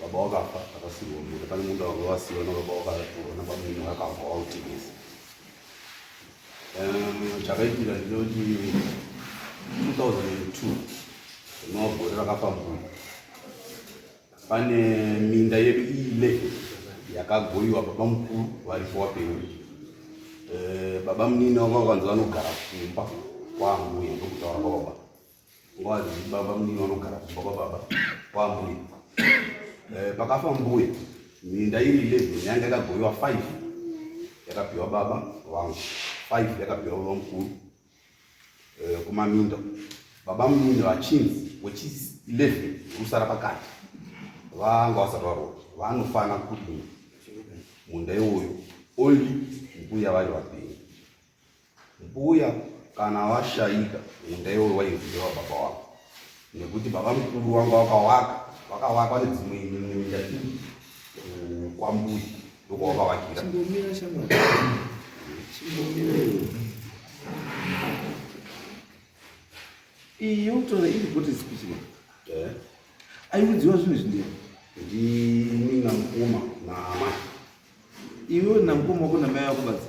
baba wakafa akasirwa munda pane munda wanga wasiwa nababa wakaratirwa nabamunini wakafa wautengesa chakaitika ndinoti 2002 rinova gore rakapambura pane minda yedu iile yakagoiwa baba mukuru varipo wapenyu eh, baba munini wanga wakanzi vanogara kumba kwangu yendokutaura kwababa Wazi baba mnini vanogara kumba kwababa kwambuya. Eh, pakafa mbuya minda iri 11 yanga yakagoiwa 5 yakapiwa baba vangu 5 yakapiwa baba mukuru eh, kumaminda baba mnini vachinzi wechis 11 rusara pakati vanga vasati varoa vanofana kudini munda iwoyo only mbuya vari vapenyu Mbuya kana washaika enda iwe wainzi wababa wako nekuti baba mukuru wanga wakawaka wakawakwa nedzimwe minda kwambuya ndokwawakavakira iyi yokutora iri kuti zipichiwa eh? aiudziwa zvinhu zvindei ndini namukoma naamai iwe namukoma wako namai vako badzi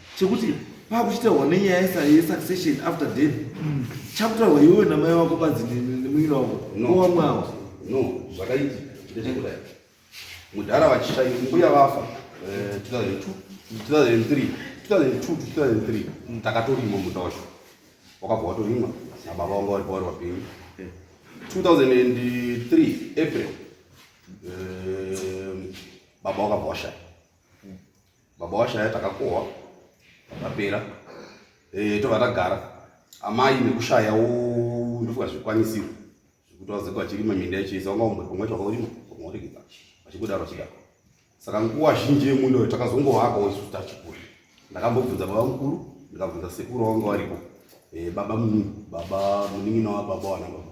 chekuti pakuchitaurwa nenyaya yesuccession after death mm. chakutaurwa iwewe namai wako badzi nemunyina wako owamwe awa no zvakaitika ndechekudai mudhara vachishai mbuya vafa 2003 eh, mm. takatorima muda wacho wakabva watorimwa nababa vanga vari pavari vapenyu 2003 april eh, baba wakabva washaya baba washaya takakohwa zvapera eh, tobva tagara amai nekushaya ndofunga zvikwanisiro zvekuti vazeko vachirima minda yechiisa wanga umbe pamwe chwaka urima pamwe uregedza vachikudaro vachidaro saka nguva zhinji yemundo takazongovakawo isu tachikura ndakambobvunza baba mukuru ndikabvunza sekuru wanga varipo eh, baba muningi baba muningi nawa baba wana baba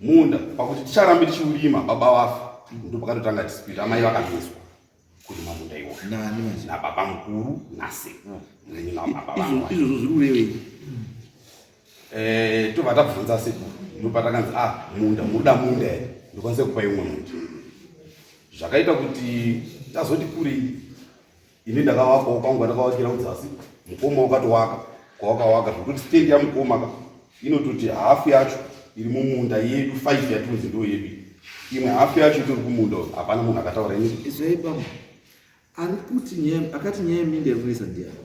munda pakuti ticharambe tichiurima baba vafa ndopakatotanga dispute amai vakamiswa kurima munda iwo nababa mukuru nasekuru izvozvo zviri kurevei eh, tobva tabvunza sekuru ndopatakanzi a ah, munda muda munda here ndokwanise kupa imwe munda zvakaita kuti tazoti kurei ini ndakavakawo kwangu andakavakira kudzasi mukoma wakatowaka kwawakawaka zvekuti stendi yamukoma ka inototi hafu yacho iri mumunda yedu five yatunzi ndo yedu imwe hafu yacho itori kumunda hapana munhu akataura ini izoipama ari kuti akati nyaya yeminde yekuisa ndiyani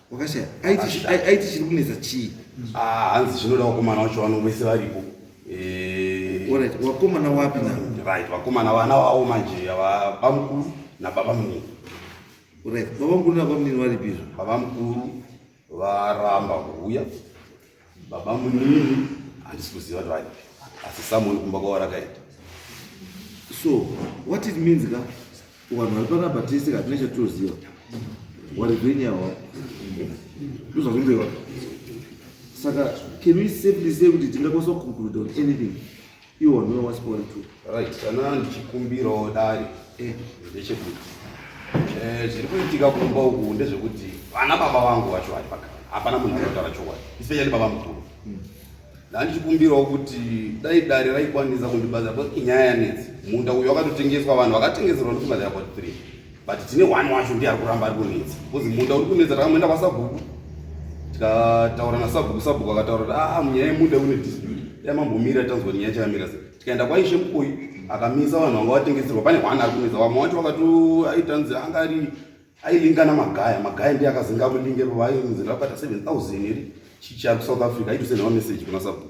wakashaya aiti aiti chiri kunetsa chii ah hanzi zvinoda wakomana wacho vano vese varipo eh alright wakomana wapi na right wakomana vana vawo manje ava bamukuru na baba mnini alright baba mkuru na baba mnini vari pizvo baba mkuru varamba kuuya Baba munini handisi kuziva kuti varipi asi samoni kumba kwavo rakaita so what it means ka vanhu vari panabhatisi katina chatoziva wari venyawa ndozvazvimbewa saka can we safely say kuti tingakwanisa kuconcluda on anything Iwo ndiwo wasikori tu. Right, kana ndichikumbirawo dare eh. ndechekuti eh, zviri kuitika kumba uku ndezvekuti vana baba vangu vacho vari pakati, hapana munhu anotaura chokwadi, isipenya ndibaba mukuru. Hmm. Ndandichikumbirawo kuti dai dare raikwanisa kundibatsira, because inyaya yanetsi. Munda uyu wakatotengeswa, vanhu vakatengeserwa ndofunga there about three but tine one wacho ndiye ari kuramba ari kunetsa bcause munda uri kunetsa takamboenda kwasabhuku tikataura nasabhuku sabhuku akataura kuti aa ah, munyaya yemuda une dispute dai mambomira tanzwa nyaya chakamira sei tikaenda kwaishe mukoyi akamisa vanhu vanga vatengeserwa pane hwana ari kunetsa vamwe wacho vakato aitanzi anga ari ailingana magaya magaya ndiye akazinga akulinge vainzi ndakabata seven thousand iri chichia kusouth africa aitosenhawa message kuna sabhuku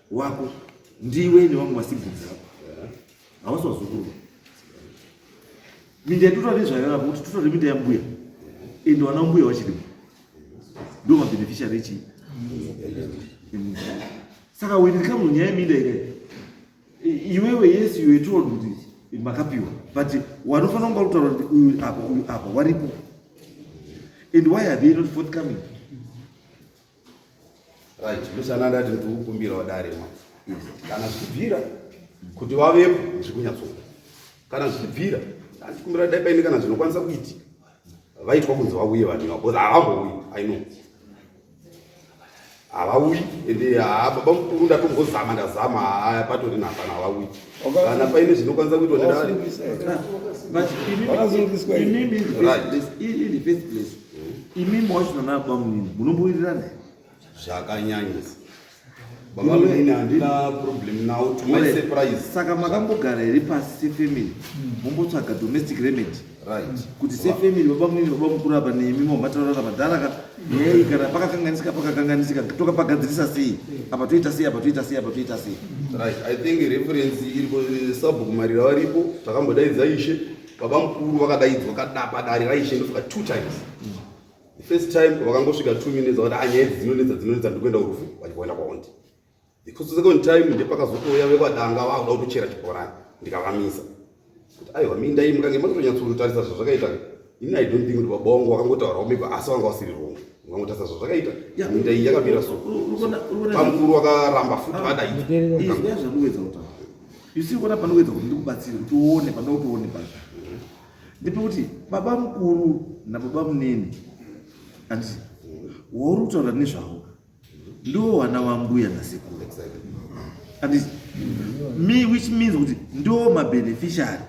wako ndiwe nevamwe masiblings ako havasi vazukuru minda yatotore nezvayo avo kuti totore minda yambuya ende wana mbuya wachirimo ndo mabeneficiary echi saka when it comes nyaya yeminda ikayi iwewe yes you were told kuti makapiwa but wanofanira kunga kutaura kuti uyu apa uyu apa waripo and why are they not forthcoming right musana ndati ndikukumbira wadare ma kana zvichibvira kuti wavepo zvikunyatsonga kana zvichibvira ndandikumbira dai paine kana zvinokwanisa kuitika vaitwa kunzi vauye vanhu ivavo bcause havambouyi i know havauyi ende haa baba mukuru ndatombozama ndazama haa patori nahapana havauyi kana paine zvinokwanisa kuitwa nedare imi mawachina nabamunini munombowirirana here zvakanyanyisa babamunini handina problem now to my surprise saka makambogara here pasi sefamily mombotsvaga domestic remedy right kuti sefamily babamunini baba mukuru apa nemi momataurana madhara ka yei kana pakakanganisika pakakanganisika toka pagadzirisa sei apa toita sei apa toita sei apa toita sei right i think reference iri sabhuku marira varipo takambodaidza ishe baba mukuru vakadaidzwa kadapa dare raishe ndosvika two times the first time vakangosvika two minutes vakuti ah, nyaya idzi dzinonetsa dzinonetsa ndikuenda kurufu vachikuenda kwaondi because second time ndepakazotouya vekwadanga vakuda kutochera chibhorani ndikavamisa kuti aiwa mindai mukange makatonyatsotarisa zvazvakaita ini i don't think kuti baba wangu vakangotaurawo maybe asi vanga vasiri wrong vangotarisa zvazvakaita mindai yakamira so pamukuru wakaramba futi ah, vadaizwa You see kuona panoedza kuti ndikubatsire kuti uone panoti uone pacho. Ndipo kuti baba mukuru nababa munini andi wauri kutaura nezvavo ndiwo vana vambuya nasekuru andi me which means kuti ndiwo mabeneficiary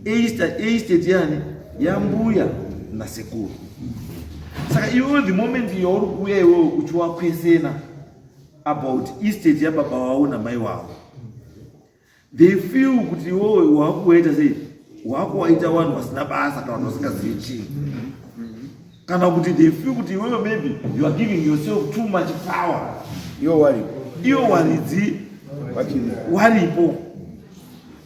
estate yani yambuya nasekuru saka iwewe the moment yauri kuuya iwewe uchiwakwesena about estate yababa wavo namai wavo they feel kuti iwowe wakuwaita sei wakuwaita vanhu vasina basa kana vanhu vasingazivi chii kana kuti they feel kuti iwewe maybe you are giving yourself too much power iyo wari iyo waridzi waripo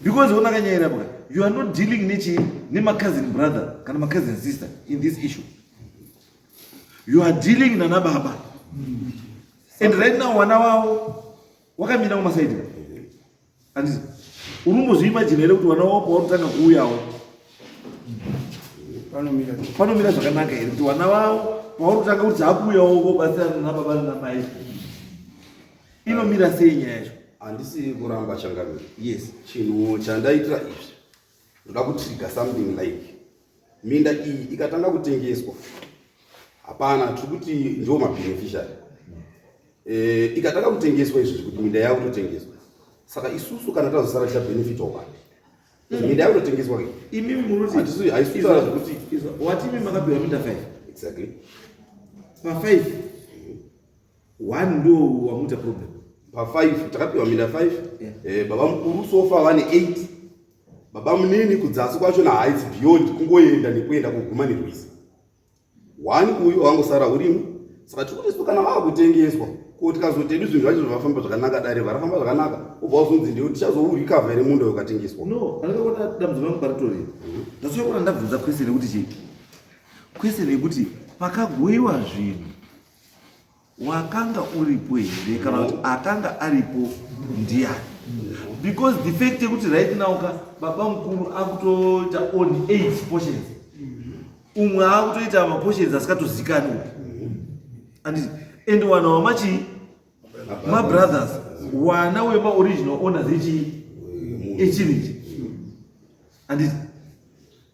because onakanyayira paka you are not dealing nechi nemacousin brother kana macousin sister in this issue you are dealing nanababa mm -hmm. and right now wana wavo wakamira kumasaidi andisi unombozviimajina here kuti wana wavo pawanotanga kuuyawo panomira zvakanaka here kuti wana wavo pawanotanga kuti akuuyawo kobatsirana nababa namai inomira sei nyaya yacho handisi kuramba changamiro yes chinhu chandaitira izvi ndoda kutriga something like minda iyi ikatanga kutengeswa hapana tiri kuti ndiwo mabeneficiary eh, ikatanga kutengeswa izvozvi kuti minda yavo totengeswa saka isusu kana tazosara ticha benefit oka hmm. minda yavo totengeswa imi munotihaisutaura zvekuti wati imi makabirwa minda five exactly pa five one ndo wamuita problem pa 5 takapiwa minda 5 yeah. eh, baba mukuru sofa vane 8 baba munini kudzasi kwacho na haisi beyond kungoenda nekuenda kuguma nerwizi one uyu wangosara urimu saka tiri kuti kana vava kutengeswa ko tikazotedu zvinhu zvacho zvavafamba zvakanaka dare varafamba zvakanaka obva wazonzi ndiyo tichazourikavha here munda yokatengeswa no andakaona dambudziko rangu paritori mhm. ndasuya kuona ndabvunza kwese nekuti chii kwese nekuti pakagoiwa zvinhu wakanga uripo here kana kuti akanga aripo ndiyani because the fact yekuti right now ka baba mukuru akutoita on eight portions umwe akutoita maportions asikatozikanwa and and wana wamachii mabrothers wana wemaoriginal owners echii echiriji anditi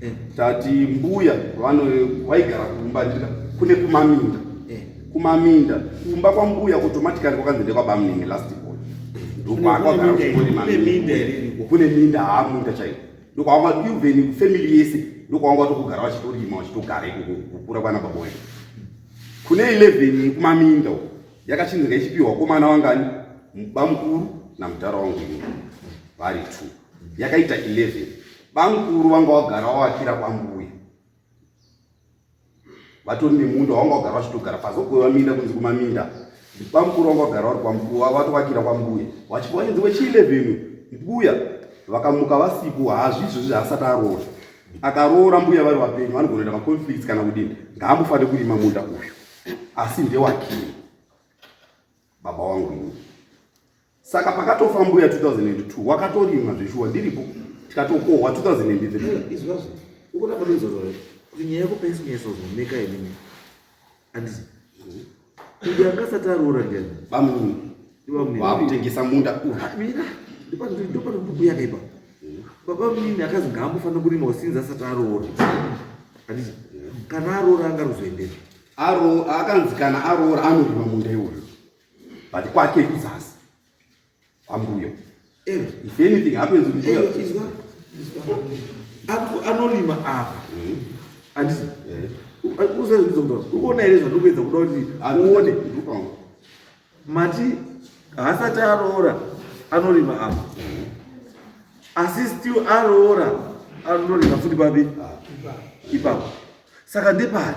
eh. tati mbuya vano waigara kumba ndika kune kumaminda eh. kumaminda kumba kwambuya automatically kwakanzi ndekwabamunenge last born ndokwaakwagarakunemindakune minda haamunda chaiyo ndokwanga even kufamily yese ndokwanga watokugara vachitorima vachitogara kukura kwana baba wedu kune 11 kumaminda uko yakachinzi ngaichipiwa komana wangani bamukuru namudhara wangu ini vari two yakaita 11 Bamkuru vanga vagara vavakira kwambuya vatori nemunda wavanga vagara vachitogara pazokuva minda kunzi kumaminda bamkuru vanga vagara vari kwambuya vatovakira kwambuya vachibva vachinzi wechielevenu mbuya vakamuka vasipo hazvizvo zvi haasati aroora akaroora mbuya vari vapenyu vanogonoita maconflicts kana kudini ngaambofanire kurima munda uyu asi ndewakii baba wangu ini saka pakatofa mbuya 2002 wakatorima zveshuwa ndiripo tikatokohwa 2003 izvazvo ukuda kudinzorore kuti nyaya yekupaisa nyaya sozoneka inini andizi kuti angasati aroora ndiani bamuni vakutengesa munda ah, mina ndopanobuku yake ipa baba munini akazi ngaambofanira kurima usinzi asati aroora andizi kana aroora angaruzoendei akanzi kana aroora anorima munda iwoyo but kwake kuzasi kwambuyo eh. if anything happens mbuya apo anorima apa andisi eh. eh. usaizvizondoa ukuona here zvandokuedza kuda kuti uone mati haasati aroora anorima apa asi still aroora anorima futi babi ipapo saka ndepari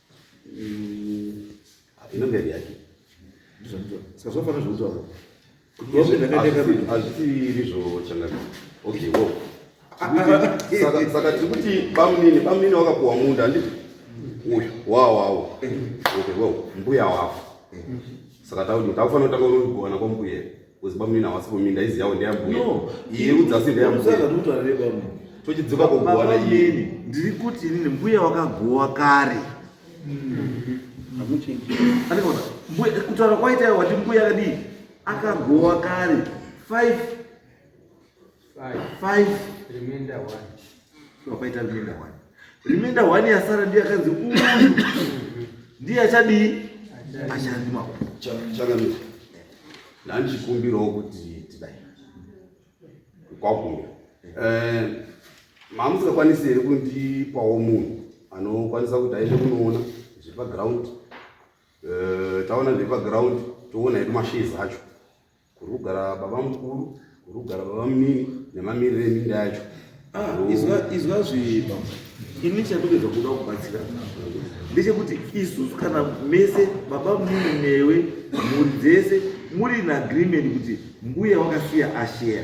inonge iri yake saka zvafanira zvekutaura hazvisiiri zvochangana okay wo saka tiri kuti bamunini bamunini wakapuwa munda ndi uyu wawawo okay wo mbuya wavo saka takufanira kutanga unogowana kwambuya Because bamu ina wasi kumi ndaizi yawo ndeya mbuya. No. Iye udzasi ndeya mbuya. Udzaka kuti wari bamu. Tochidzoka kugowana iye. Ndiri kuti inini mbuya wakagowa kare. Mm. Amuchenji. Alikona. Mbuya kutaura kwaita wati mbuya kadii? Akagowa kare. 5 5 remainder 1 so paita remainder 1 remainder 1 yasara ndiye akanzi uyu ndiye achadii achandima chakamisa ndandichikumbirawo kuti tidai kwakumbira eh, mamusingakwanisi here kundipawo munhu anokwanisa kuti aende kunoona zvepaground eh, taona zvepaground toona hedu mashezi acho Kuri kugara baba mukuru, kuri kugara baba munini nemamiriro eminda yacho. Ah, izwa izwa zviba ini chandogeza kuda kubatsira ndechekuti isusu kana mese baba muni newe mhuri dzese muri in agreement kuti mbuya wakasiya asheya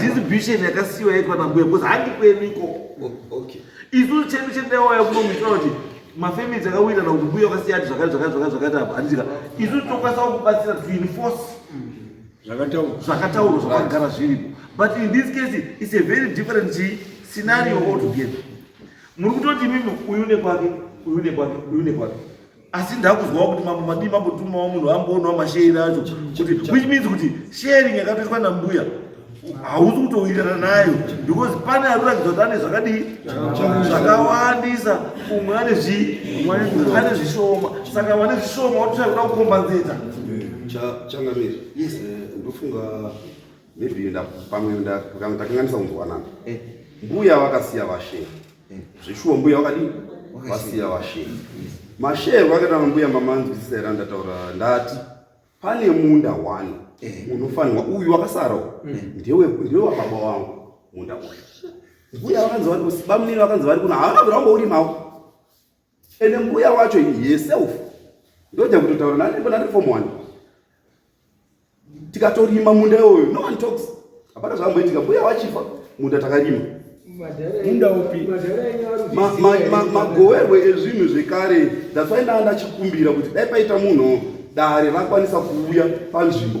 distribution yakasiwa yekwana mbuya because handi kwenuko oh, okay isu chedu chendawaya kuno muitira kuti mafamilies akawirirana kuti mbuya wakasiyati zvakati zvakati zvakati zvakati apa handitika isu tokwanisa kubatsira to enforce zvakataurwa zvakagara zviripo but in this case it's a very different scenario altogether muri kutoti mimi uyu nekwake uyu nekwake uyu nekwake asi ndakuzwawo kuti mambo madii mambotumawo munhu amboonawo mashairi acho kuti which means kuti sharing yakatoitwa nambuya hausi kutowirirana nayo because pane ari kuratidza kuti ane zvakadii zvakawandisa umwe ane ane zvishoma saka vane zvishoma watoshaya kuda kukombanzeta changamiri eh, ndofunga maybe pamwe ndakanganisa kunzwanana eh. mbuya vakasiya vashe eh. zveshuwa mbuya vakadii vasiya vashe masheru vakaita mambuya mamanzwisisa here andataura ndati pane munda one eh. unofanirwa uyu wakasarawo ndewe wababa wangu munda uyu mbuya vakanzi vari bamunini vakanzi vari kuno havana kuramba urimawo ende mbuya wacho yeself ndoda kutotaura nani pana reform one tikatorima munda iwoyo no one talks hapana zvamboitika mbuya wachifa munda takarima munda upi magowerwe ezvinhu zvekare that's why ndanga ndachikumbira kuti dai paita munhu dare rakwanisa kuuya panzvimbo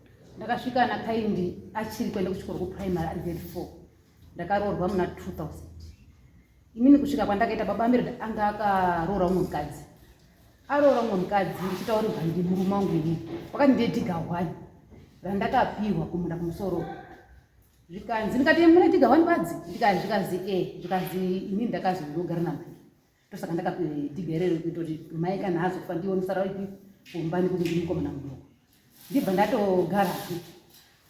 ndakasvika ana kaindi achiri kuenda kuchikoro kuprimary ari grade four ndakaroorwa muna 2000 inini kusvika kwandakaita baba amire anga akaroora umwe mukadzi aroora umwe mukadzi ndichitaurirwa ndimurume wangu ini wakati ndiye dhiga hwani randakapihwa kumunda kumusoro zvikanzi ndikati mune dhiga hwani badzi zvikanzi e zvikanzi inini ndakazi ndinogara namai ndosaka ndakati ndigerere kutoti mai kana azofa ndiwo musara ipi kumba nekuti ndiri mukomana mudoko ndibva ndatogara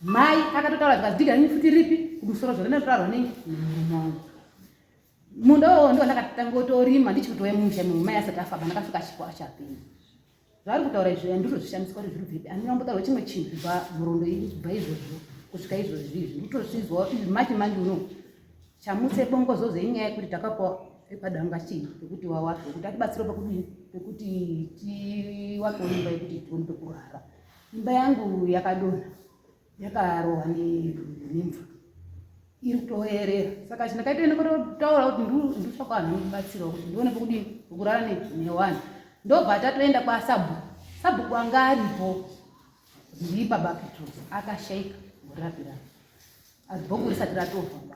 mai akatotaura zvikanzi diga nini futi ripi kumusoro zvore natotaurwa nei nemurume wangu munda wowo ndiwo ndakatangotorima ndichikutoya mumusha mumai asati afamba ndakasvika chipo achapinda zvaari kutaura izvo andizvo zvishamiswa kuti zviri bvepi andina kumbotaura chimwe chinhu kubva nhorondo iyi kubva izvozvo kusvika izvozvi izvi nditozvizwa izvi mati manje uno chamutse bongozozo inyaya yekuti takapiwa epadanga chii pekuti wawape kuti atibatsirwa pakudii pekuti tiwakewo imba yekuti tione pekurara imba yangu yakadonha yakarohwa nemvura iri kutoerera saka chandakaita ine kutotaura kuti nditsvaka vanhu vanobatsirawo kuti ndione pokudii pokurara newani ndobva tatoenda kwasabhuku sabhuku anga aripo ndii baba petros akashaika murapirana azibhuku risati ratova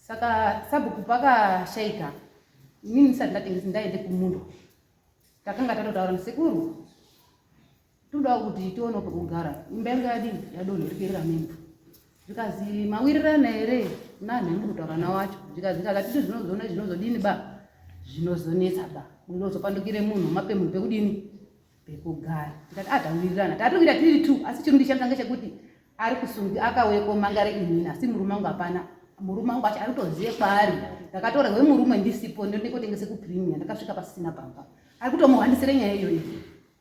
saka sabhuku pakashaika inini ndisati ndaende kumundo takanga tatotaura musekuru Todawo kuti tione pekugara imba yanga yadini yadonhorikirira mimba zvikanzi mawirirana here nani mukutaura na wacho zvikanzi kakatiti zvinozona zvinozodini ba zvinozonetsa ba unozopandukire munhu mape munhu pekudini pekugara tikati a ah, tawirirana tati kuita tiri two asi chirundi changu change chekuti ari kusungi akauye komangare inini asi murume wangu hapana murume wangu acho ari kutozive kwaari ndakatora we murume ndisipo ndonekotengese kupremia ndakasvika pasisina pamba ari kutomuhwandisire nyaya iyoyi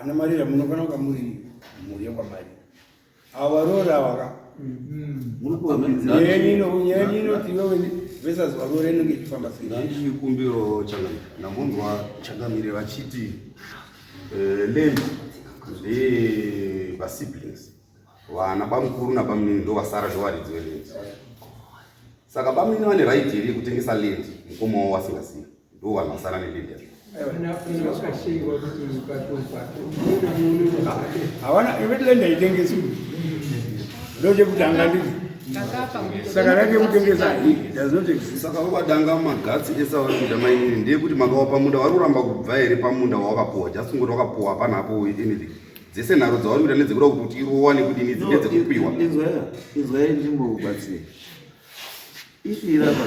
ana marira munofana kuva muri mhuri yekwamarira avo varoora avaka ndikumbiro ndambonzwa changamire vachiti eh, land ndevasiblings vana bamukuru nabamnini ndovasara zvovaridzi veland saka bamnini vane right here yekutengesa land mukomawo wasingazivi Ndiwo vanhu vasara neLibya. Hawana iwe lenda itengeswe. Ndoje kutanga ndiri. Saka rake kutengesa hii does not exist. Saka wakadanga magatsi esa vari kuda mainini ndiye kuti makawapa munda wari kuramba kubva here pamunda wawakapuwa just kungoti wakapuwa hapana hapo anything dzese nharo dzauri kuda nedzekuda kuti irowa nekudini dzinge dzekupiwa inzwai ndimbokubatsira if irapa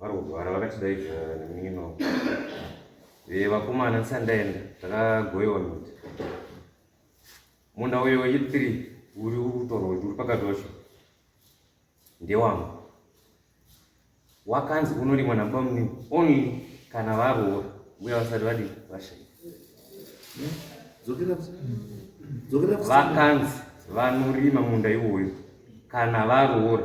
vari kurwara vakatidaidza nemunin'ina wavo eh, vakomana ndisati ndaenda takagoyewa miti munda uyo wechi three uri kutorwa kuti uri pakati wacho ndewangu wakanzi unorimwa nabamunini only kana varoora mbuya vasati vadii vashaika vakanzi vanorima munda iwoyo kana varoora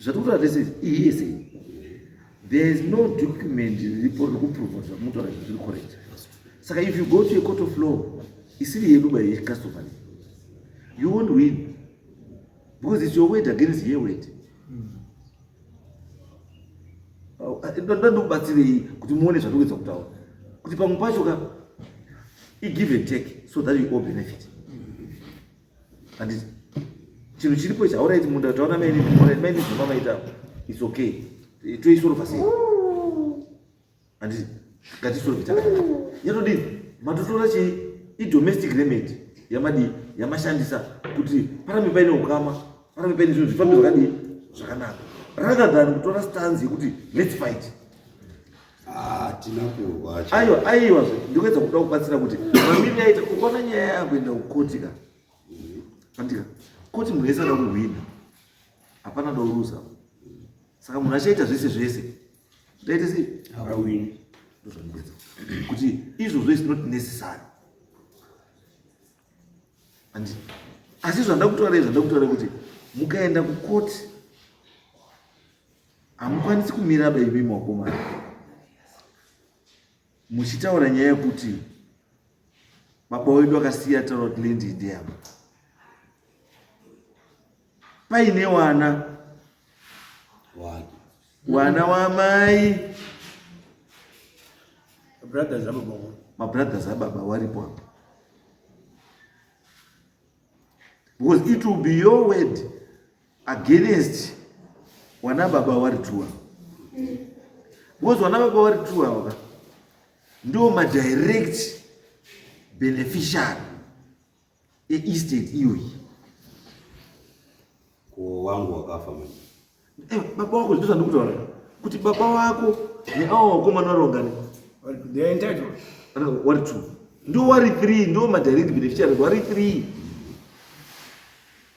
zvatikutora tese ihese there is no document riripo rekuprova zvamunotaura izvo zviri correct saka if you go to a court of law isiri yedu by customer you won't win because it's your word against her word ndoda ndikubatsirei kuti muone zvatikuedza kutaura kuti pamwe pacho ka igive and take so that you all benefit and chinhu chiripo ichi hauraiti munda taona maini muraiti maini zvima maita its okay toisolva sei and ngatisolve takadai yatodii matotora chii idomestic remedy yamadii yamashandisa kuti parambe paine ukama parambe paine zvinhu zvifambe zvakadii zvakanaka rather than kutora stanzi yekuti let's fight hatina kurwa aiwa aiwa zve ndikuedza kuda kubatsira kuti mamiri yaita ukaona nyaya yakuenda kukoti ka andika koti munhu wese ada kuhwina hapana dauruza saka munhu achaita zvese zvese zvaite sei awini ndozvandikuedza kuti izvozvo is not necessary and asi zvandakutaura izvo ndakutaura kuti mukaenda kukoti hamukwanisi kumira baby mwakomana muchitaura nyaya yekuti baba wedu akasiya taura kuti lendi ndeyama paine wana wana wamai mabrothers ababa waripo apa because it will be your word against wana baba wari true because wana baba wari true ava ndo ma direct beneficiary e estate iyoyi ko wangu wakafa manje eh baba wako ndizvo ndikutaura kuti baba wako neawo wakomana varongani they are entitled wari two ndo wari three ndo ma direct beneficiary wari three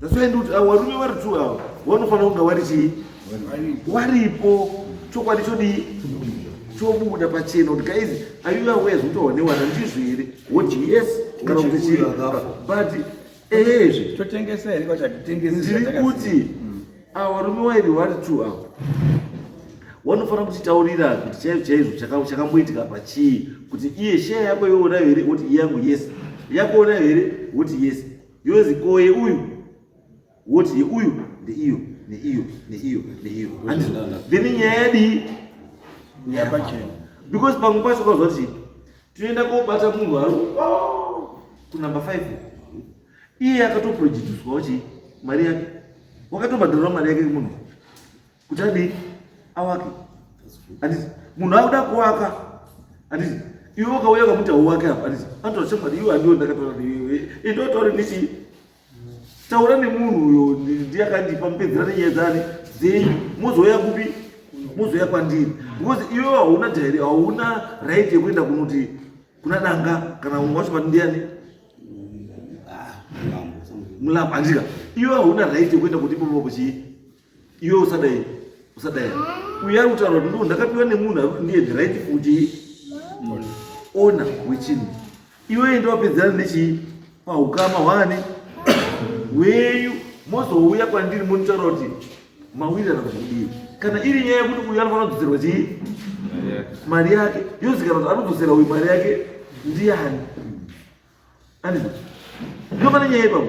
That's why ndikuti avo varume vari two avo vanofanira kunge vari chii waripo chokwadi chodii chobuda pachena kuti guys ayiwa wezi kutowanewana ndizvo here woti yes kana kuti chii but ehezve totengesa here kwatatengesa ndiri kuti avo varume wairi vari two avo wanofanira kutitaurira kuti chaizvo chaizvo chakamboitika pachii kuti iye sheya yako yoona here woti iyangu yes yakuona here woti yes yozi ko yeuyu woti yeuyu ndeiyo neiyo neiyo neiyo then nyaya yadii yapachena because pamwe pacho kwazva kuti tinoenda kobata munhu ari oh, kunumber five iye akatoprojiduswa kuti mari yake wakatobhadharwa mari yake munhu kuti adii awake anditi munhu akuda kuwaka anditi iwe ukauya ukamuti hauwake apa anditi anotaura chokwadi iwe handiwo ndakataura neiwe indotaure ndichi taura nemunhu uyo ndiye akandipa mupedzera nenyaya dzani dzenyu mozouya kupi mozouya kwandiri because iwe hauna dhairi hauna right yekuenda kunoti kuna danga kana wacho pati ndiani ah, mulambo andika iwe hauna right yekuenda kuti ipopo kuchii Iwe usadai. Usadai. Uya utaura kuti ndakapiwa nemunhu ari ndiye the right kuti ona wechinhu. Iwe enda wapedzana nechii? Pahukama hwani? Weyu mozouya kwandiri monitaura kuti mawirirana kuti kudii. Kana iri nyaya yekuti uyu anofanira kudzoserwa chii? Mari yake. Yozikana kuti anodzosera uyu mari yake ndiani? Andizvo. Ndopane nyaya ipapo.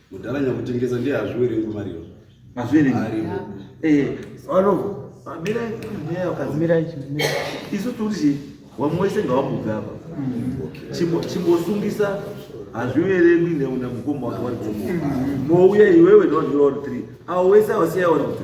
Mudhara nyakutengesa ndiye hazviwerengi mariyo. Hazviwerengi. Aripo. Eh, vanovo. Mira nyaya kazi. Mira ichi. Isu turi wamwe wese ngawamubve apa. Chimbo chimbosungisa hazviverengwi neuna mukoma wake wari kumu. Mouya iwewe no 3. Awo wese awasiya wari kuti.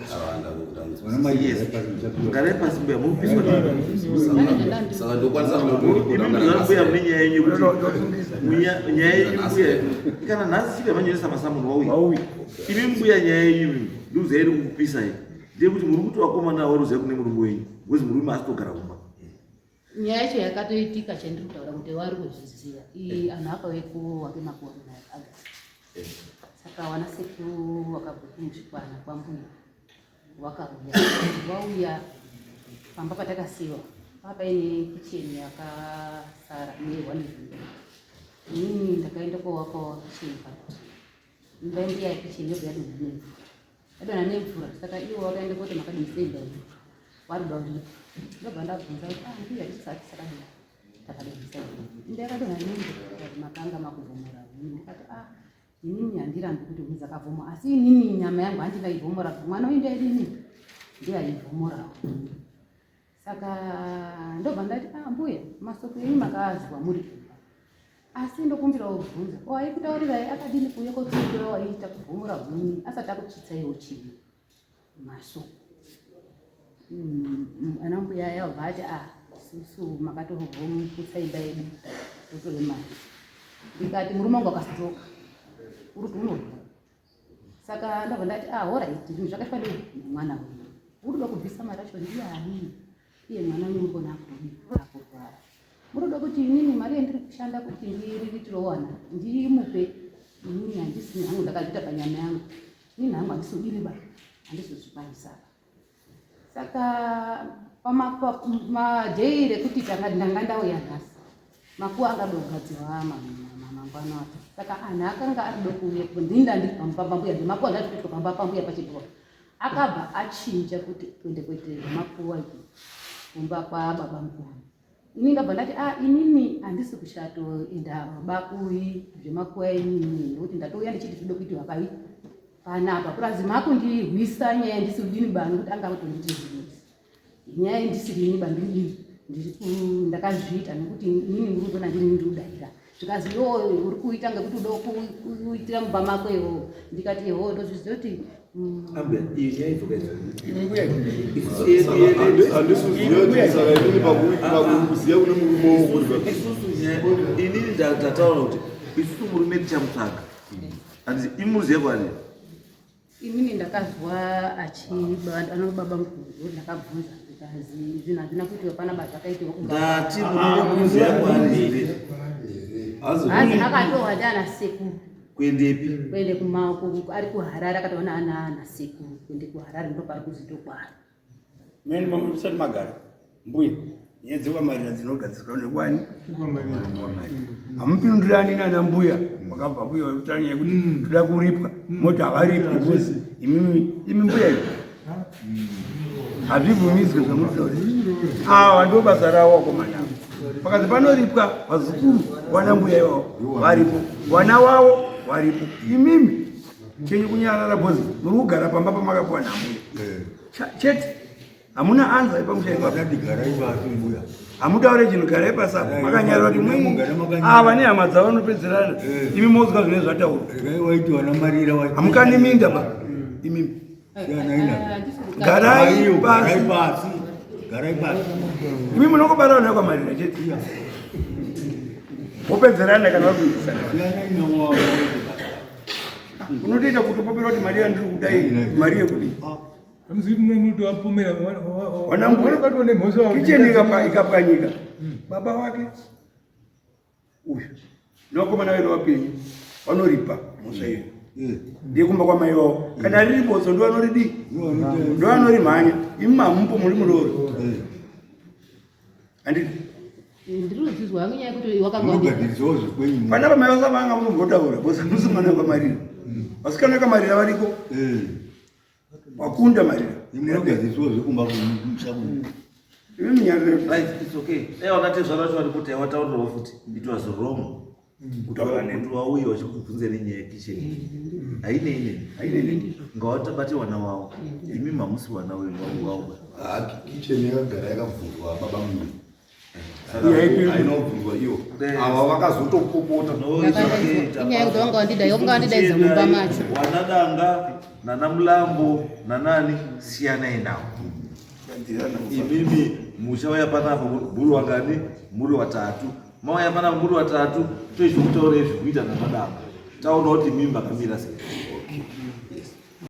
kana nhasi chii yamanyoresa masamuni wauya imi mbuya nyaya yenyu ndiuza iri kukupisa iyi ndeyekuti muri kuti vakomana avo ruziva kune murume wenyu bcause murume asitogara kumba nyaya yacho yakatoitika chandiri kutaura kuti wari kuzviziva ii anhu apa vekuwake makore nayo aga saka wana seku wakabhuku muzvikwana kwambuya wakauya wauya pamba patakasiwa papaine kicheni yakasara newanezimbe ini ndakaenda kowakawa kicheni pa Imba ndiya yekuchini yobva yadonha nemvura. Yadonha nemvura saka iwo wakaenda koti makadini sei imba iyi. Waruda uri. Ndobva ndabvunza kuti ah ndiya tisati sakadini. Takadini sei. Imba yakadonha nemvura makanga makuvhomora. Ndikati ah inini handirambi kuti mudzi akavhomora asi inini nyama yangu handingaivhomora mwana uyu ndaidini ndiye aivhomorawo saka ndobva ndati ah, mbuya masoko enyu makaazwa muri kumba asi ndokumbira wobvunza ko aikutaurirai akadini kuuye kotiitira waiita kuvhumura huni asati akutsvitsaiwo chii masoko mm, mm, ana mbuya yabva ati a ah, susu makatohobvomuputsa imba yedu totove mari ndikati murume wangu akastroka uri kuti unorwa saka ndabva ndati ah horait zvinhu zvakaitwa nei mwana uyu unoda kubvisa mari acho ndiyani iye mwana unongona kurwara munoda kuti inini mari yandiri kushanda kuti ndiriritirowana ndimupe inini handisini hangu ndakazviita panyama yangu inini hangu handisubiri ba handizozvikwanisa saka pamadhei rekuti ndanga ndauya nhasi makuwa angada kugadzirwa mangwana acho saka anhu akanga ari dokuuye ndinda ndiri pamba pambuya ndemakuwa ndazvikuitwa pamba pambuya pachibhoa akabva achinja kuti kuende kuitei makuwa kumba kwababa mukuru Ini ndabva ndati a ah, inini handisi kuchatoenda bakui zvemakuya inini nekuti ndatouya ndichiti zvinoda kuitiwa pai panapa purazi makundihwisa nyaya ndisi kudini ba nekuti anga kutonditi zvinhu nyaya ndisiri ini bandiri ndiri ndakazviita nekuti inini muri kuona ndini ndiri kudaira zvikanzi iwo uri kuita ngekuti udo kuitira mumba mako iwo ndikati iwo ndozviziva kuti inini ndataura kuti isusu murume tichamutsvaga andizi imuziva kwani Inini ndakazwa anobaba mukuru ndakabvunza zvinhu hazvina kuitika pana baba zvakaitika ndati munokuziva kwandiri hazi akatohwa ndiana sekuru kuendepi kuende kumako ari kuharare akatoona ana ana sekuru kuende kuharare ndopari kuzitokwana Msati magara mbuya nyaya dzekwamarira dzinogadzirwa nekwani hamupindirani nana mbuya wakabva mbuya wekutanga yekuti mm. toda kuripwa mm. moti havaripi because imimi imi mbuya iyo hazvibvumidzwe zvamutauri awa ndo basa ravo wakomanavo pakazi panoripwa vazukuru wana mbuya ivavo varipo wana wavo varipo imimi chenyu kunyarara bhozi muri kugara pamba pamakapiwa namuya eh. chete hamuna anza ipamushaikaadigaraibaaimbuya hamutaure chinhu garai pasapo eh, makanyarwa kuti mwe ava ah, nehama dzavo vanopedzerana eh. imi mozwa zvine zvataurwa hamukaneminda ba imimi garai pasi garai pasi imi munokobarana nayo kwamarira chete wopedzerana kana wakuitisana unotoita kuti upopera kuti mari yandiri kudai mari yekudii wanangu kicheni ikapwanyika baba wake uyu nokomana wena wapenyu vanoripa mhosva iyo eh. ndekumba kwamai vavo kana riri bodzo ndovanoridii ndovanorimhanya imi mamupo muri muroori eh. andii vana vamai vasa vanga munombotaura bcause musi mwana wakamarira vasikana vakamarira variko eh. Wakunda mari. Ndinoga zviso zvekumba kumusha kuno. Iwe munyariro. Right, it's okay. Eh wakati zvara zvacho kuti wataurwa futi. It was wrong. Mm. Kutaura ne mtu wauyo wachikubvunza nenye ya kitchen. Mm. Haine ine. Haine ine. Ngawata bati wana wao. Mm. Imi mamusi wana wewe wao. Ah, kitchen yakagara yakavhurwa baba mimi. inobvunzwa iyo ava vakazotopopota inyaya kuti vanga vandidaidza vanga vandidaidza mumba macho wanadanga nana mulambo nanani siyanai navo imimi muchauya panapa muri wangani muri watatu mauya panapa muri watatu toizvokutaura izvikuita namadanga taona kuti mimi makamira sei